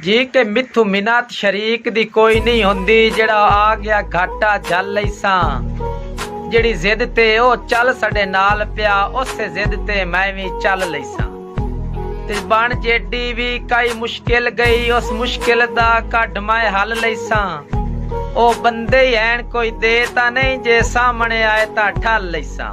جھیک تے میتھوں منت شریک دی کوئی نئیں ہوندی جیڑھا آ گیا گھاٹا جھل لئیساں جیڑھی ضد تے او چل ساڈے نال پیا اوسے ضد تے میں وی چل لئیساں تے بن جیڈی وی کئی مشکل گئی اس مشکل دا کڈھ میں حل لئیساں او بندے ہی ہین کوئی دے تاں نئیں جے سامنے آئے تاں ٹھل لئیساں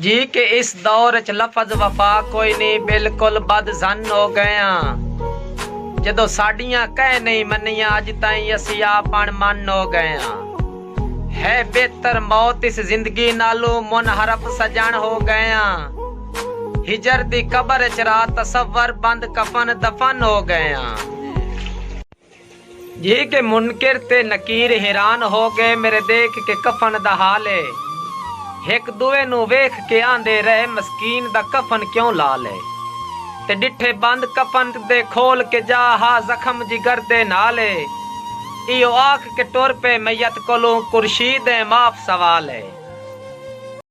جی کہ اس دور اچ لفظ وفا کوئی نی بالکل بد ظن ہو گئے ہاں جدوں ساڈیاں کہیں نہیں منیاں اج تائیں اسی آپ اݨ من ہو گئے ہاں ہے بہتر موت اس زندگی نالوں منحرف سجݨ ہو گئے ہاں ہجر دی قبر اچ را تصور بند کفن دفن ہو گئے ہاں۔ جھیک منکر تے نکیر حیران ہو گئے میرے دیکھ کے کفن دا حال اے ہک دوئے نوں ویکھ کے آندے رہے مسکین دا کفن کیوں لال اے تے ڈٹھے بند کفن دے کھول کے جا ہا زخم جگر دے نال اے ایہو آکھ کے ٹر پئے میت کولوں قرشید ایں معاف سوال اے۔